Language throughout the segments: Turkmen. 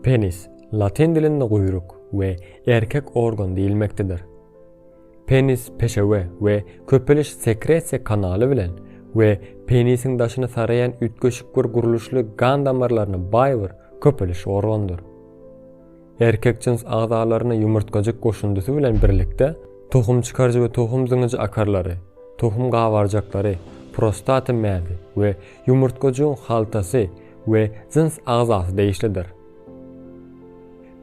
Penis, latyn dilinde guýruk we erkek organ diýilmekdedir. Penis peşewe we köpeliş sekresiýa kanaly bilen we penisiň daşyny saraýan üýtgeşik bir gurluşly gan damarlaryna baý bir köpeliş organdyr. Erkek jyns agzalaryna ýumurtgajyk goşundysy bilen birlikde tohum çykaryjy we tohum zyňyjy akarlary, tohum gabarjaklary, prostata mäzi we ýumurtgajygyň haltasy, we jyns agzasy degişlidir.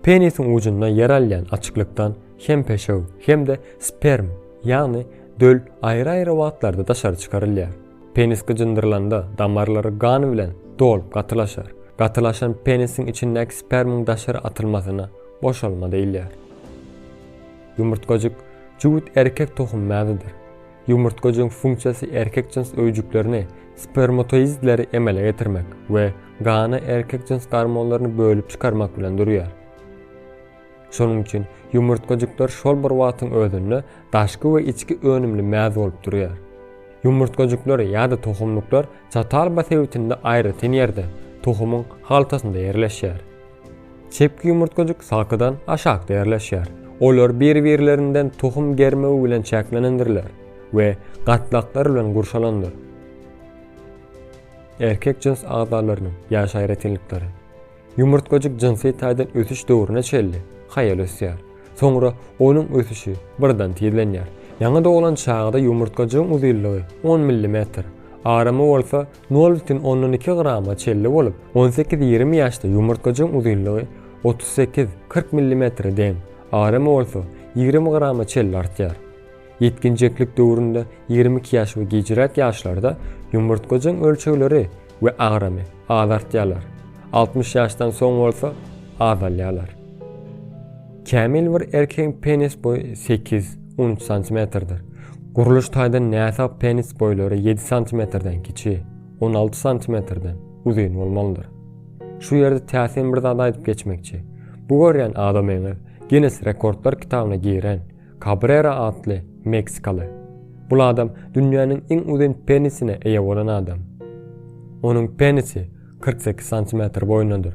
Penisiň ujunda ýer alýan açyklykdan hem peşew, hem-de sperm, ýagny döl aýry-aýry wagtlarda daşary çykarylýar. Penis gyjyndyrylanda damarlary gan bilen dolup gatylaşar. Gatylaşan penisiň içindäki spermiň daşary atylmasyna boşalma diýilýär. Ýumurtgajyk jübüt erkek tohum mäzidir. Ýumurtgajygyň funksiýasy erkek jyns öýjüklerini, spermatoidleri emele getirmek we gana erkek jyns gormonlaryny bölüp çykarmak bilen durýar. Şonuň üçin ýumurtgajyklar şol bir wagtyň özünde daşky we içki önümli mäz bolup durýar. Ýumurtgajyklar ýa-da tohumlyklar çatalba sebitinde aýratyn ýerde, tohumyň haltasynda ýerleşýär. Çepki ýumurtgajyk sakydan aşakda ýerleşýär. Olar bir-birlerinden tohum germegi bilen çäklenendirler we gatlaklar bilen gurşalandyr. Erkek jyns agzalarynyň ýaş aýratynlyklary. Ýumurtgajyk jynsy taýdan ösüş döwrüne çenli haýal ösýär. Soňra onuň ösüşi birden tizlenýär. Ýaňy doglan çagada ýumurtgajygyň uzynlygy on millimetr, aramy bolsa Nol bütin ondan iki grama çelli bolup, on sekiz ýigrimi ýaşda ýumurtgajygyň uzynlygy otuz sekiz kyrk millimetre deň, aramy bolsa ýigrimi grama çelli artýar. Ýetginjeklik döwründe ýigrimi iki ýaş we gijräk ýaşlarda ýumurtgajygyň ölçegleri we agramy az artýarlar, altmyş ýaşdan soň bolsa azalýarlar. Kämil bir erkegiň penis boýy sekiz, on üç santimetrdir. Gurluş taýdan näsag penis boýlary ýedi santimetrden kiçi, on alty santimetrden uzyn bolmalydyr. Şu ýerde täsin bir zat aýdyp geçmekçi. Bu görýän adamyňyz Ginnes rekordlar kitabyna giren Kabrera atly meksikaly. Bul adam dünýäniň iň uzyn penisine eýe bolan adam. Onuň penisi kyrk sekiz santimetr boýundadyr.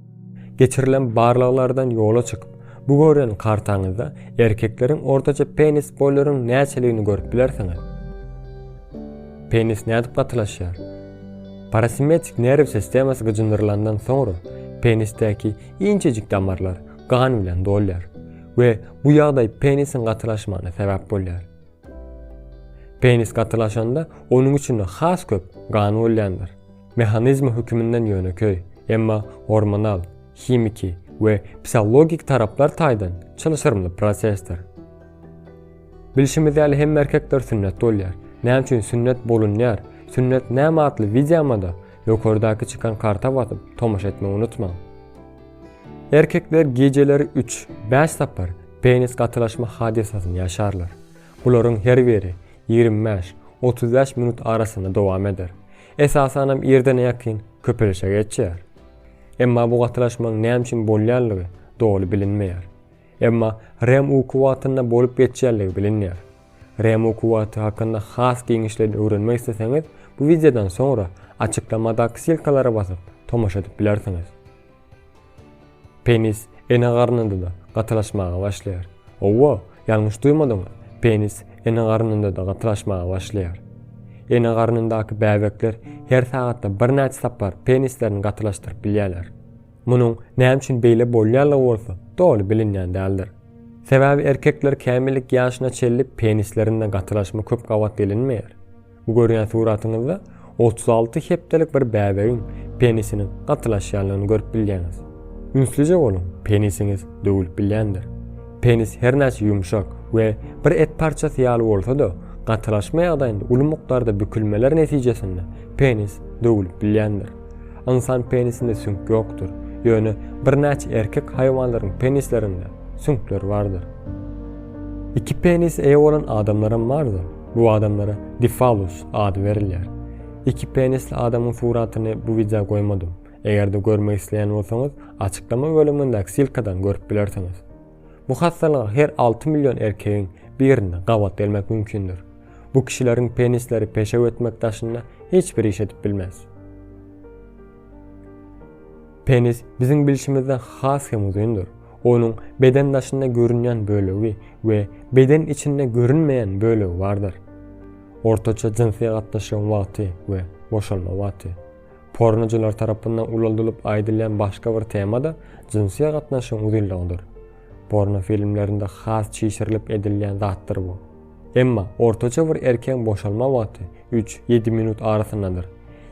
Geçirilen barlaglardan ýola çykyp, bu görülen kartaňyzda erkekleriň ortaça penis boýlarynyň näçeligini görüp bilersiňiz. Penis nädip gatylaşýar? Parasimetik nerw sistemasy gyjyndyrylandan soňra, penisdäki inçejik damarlar gan bilen dolýar we bu ýagdaý penisiň gatylaşmagyna sebäp bolýar. Penis gatylaşanda onuň içinde has köp gan bolýandyr. Mehanizmi höküminden ýönekeý, emma gormonal, himiki we psihologik taraplar taýdan çylşyrymly prosesdir. Bilşimiz ýaly hemme erkekler sünnet bolýar. Näme üçin sünnet bolunýar, sünnet näme atly wideomada ýokardaky çykan karta basyp tomaşa etmegi unutmaň. Erkekler gijeleri üç, bäş sapar penis gatylaşma hadysasyny ýaşarlar. Bularyň her biri ýigrimi bäş, otuz bäş minut arasynda dowam eder. Esasanam irdene ýakyn köpelişe geçýär. Emma bu gatylaşmaň näme üçin bolýanlygy doly bilinmeýär. Emma REM uky wagtynda bolup geçýänligi bilinýär. REM uky wagty hakynda has giňişleýin öwrenmek isleseňiz, bu wideodan soňra açyklamadak silkalara basyp tomaşa edip bilersiňiz. Penis ene garnynda-da gatylaşmaga başlaýar. Howwa, ýalňyş duýmadyňyz, penis ene garnynda-da gatylaşmaga başlaýar. Ene garnyndaky bäbekler her sagatda birnäçe sapar penislerini gatylaşdyryp bilýärler. Munuň näme üçin beýle bolýanlygy bolsa doly bilinýän däldir. Sebäbi erkekler kämillik ýaşyna çenli penislerinde gatylaşma köp gabat gelinmeýär. Bu görýän suratyňyzda otuz alty hepdelik bir bäbegiň penisiniň gatylaşýanlygyny görüp bilýäňiz. Ünslije boluň, penisiňiz döwülip bilýändir. Penis her näçe ýumşak we bir et parçasy ýaly bolsa-da, gatylaşma ýagdaýynda uly mukdarda bükülmeler netijesinde penis döwülip bilýändir. Ynsan penisinde süňk ýokdur, ýöne birnäçe erkek haýwanlaryň penislerinde süňkler bardyr. Iki penise eýe bolan adamlaram bardyr. Bu adamlara Difalus ady berilýär. Iki penisli adamyň suratyny bu wideo goýmadym. Eger-de görmek isleýän bolsaňyz, açyklama bölümindäki silkadan görüp bilersiňiz. Bu hassalyga her alty million erkegiň birinde gabat gelmek mümkindir. Bu kişileriň penisleri peşew etmek daşynda hiç bir iş edip bilmez. Penis biziň bilşimizden has hem uzyndyr. Onuň beden daşynda görünýän bölegi we beden içinde görünmeýän bölegi bardyr. Ortaça jynsy gatnaşygyň wagty we boşalma wagty. Pornoçylar tarapyndan ulaldylyp aýdylýan başga bir tema-da jynsy gatnaşygyň uzynlygydyr. Porno filmlerinde has çişirilip edilýän zatdyr bu. Emma ortaça bir erkegiň boşalma wagty üç, ýedi minut arasyndadyr.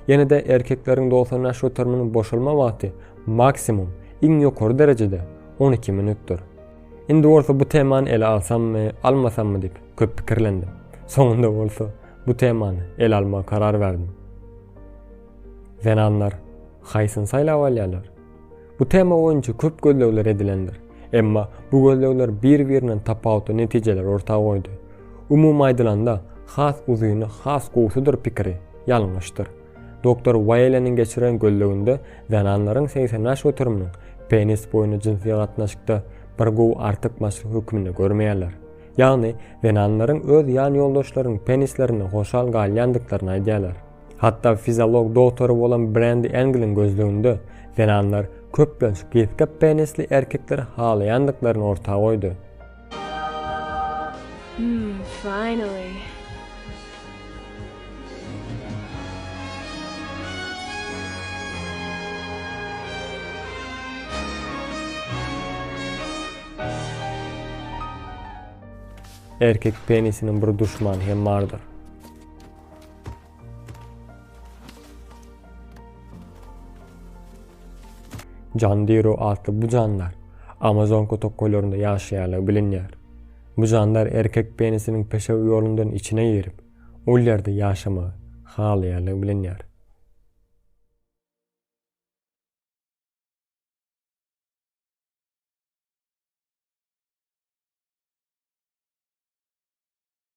Ýene-de erkekleriň dogsan ýaş göteriminiň boşalma wagty Maksimum, iň ýokary derejede on iki minutdyr. Indi bolsa bu temany ele alsammy, almasammy diýip, köp pikirlendim. Soňunda bolsa bu temany ele almagy karar berdim. Zenanlar haýsyny saýlap alýarlar? Bu tema boýunça köp gözlegler edilendir. Emma bu gözlegler bir-birinden tapawutly netijeleri orta goýdy. Umumy aýdylanda, has uzyny has gowusydyr pikiri ýalňyşdyr. Doktor Waýleniň geçiren gözleginde zenanlaryň segsen bäş göteriminiň penis boýuny jynsy gatnaşykda bir gowy artykmaçlyk hökmünde görmeýärler. Ýagny, zenanlaryň öz ýan ýoldaşlarynyň penislerinde hoşal galýandyklaryny aýdýarlar. Hatda fiziolog dogtory bolan Brendi Engliň gözleginde zenanlar köplenç gysga penisli erkekleri halaýandyklaryny orta goýdy. Hum finally. Erkek penisiniň bir duşmany hem bardyr. Jandiro atly bu jandar Amazon kötekgoýlarynda ýaşaýanlygy bilinýär. Bu jandar erkek penisiniň peşew ýolundan içine girip, ol ýerde ýaşamagy halaýanlygy bilinýär.